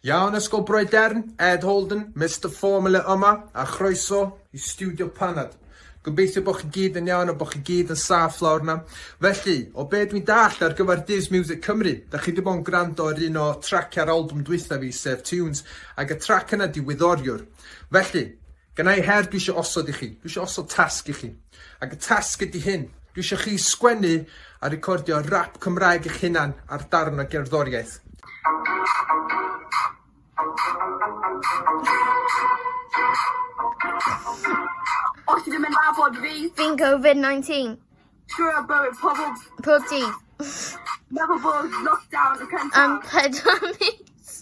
Iawn, Ysgol Broedern, Ed Holden, Mr Formula yma, a chroeso i Studio Panad. Gobeithio bod chi gyd yn iawn a bod chi gyd yn saff lawr yna. Felly, o be dwi'n dall ar gyfer Dydd Music Cymru, da chi wedi bod yn gwrando ar un o traciau'r album dwytha fi, sef Tunes, ac y trac yna di Wyddoriwr. Felly, gynnau i her dwi eisiau osod i chi, dwi eisiau osod tasg i chi. Ac y tasg ydy hyn, dwi eisiau chi sgwennu a recordio rap Cymraeg eich hunan ar darn o gerddoriaeth. Os ti ddim yn nabod fi, Fi'n Covid-19 trwy ar bywyd pobl pob dydd. Meddwl bod lockdown y cyntaf. Am pedwar mis.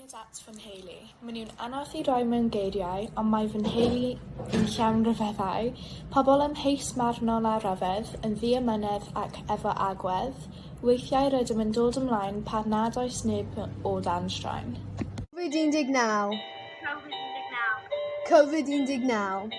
Cariad at fy nheulu. Maen nhw'n anodd i roi mewn geiriau, ond mae fy nheulu i'n llawn rhyfeddau, pobl amheus marnol a rhyfedd, yn ddiamynedd ac efo agwedd. Weithiau rydym yn dod ymlaen pan nad oes neb o dan straen. Covid 19. Covid 19. Covid 19.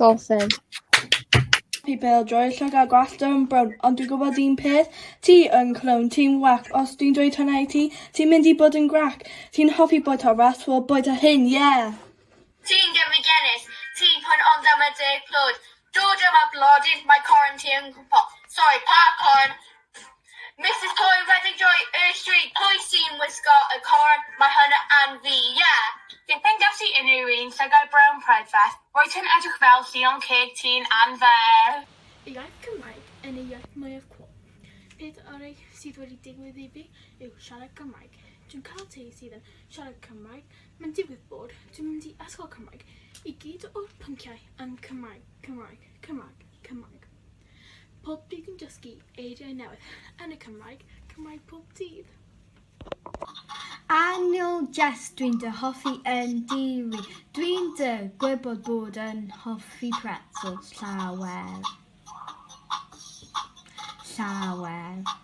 Dolphin. Fi bel droi llwg a gwallt yn brown ond dwi'n gwybod un peth, ti yn clown, ti'n whack os dwi'n dweud hwnna i ti, ti'n mynd i bod yn grac, ti'n hoffi bwyta raps, wel bwyta hyn, yeah! Ti'n gefndigenus, ti'n poen ond am y deg plwd, dod yma blodyn, mae corn ti yn gwmpo, sori pa corn, Misus Coyle wedi rhoi ysri, pwy sy'n wisgo y corn, mae hwn yn fi, ie! Byth yn gallu unrhyw un llygad brown prydferth, roedd hi'n edrych fel llion ceg tun anferth! Y iaith Cymraeg yn ei iaith mwyaf cwl. Peth orau sydd wedi digwydd i fi yw siarad Cymraeg. Dwi'n cael teulu sydd yn siarad Cymraeg, mae'n digwydd bod dwi'n mynd i ysgol Cymraeg, i gyd o'r pynciau yn Cymraeg, Cymraeg, Cymraeg, Cymraeg. Pob dydd yn dysgu eiriau newydd yn y Cymraeg, Cymraeg pob dydd. Annual Jest dwi'n dy hoffi yn diri. Dwi'n dy gwybod bod yn hoffi pretzels llawer. Llawer.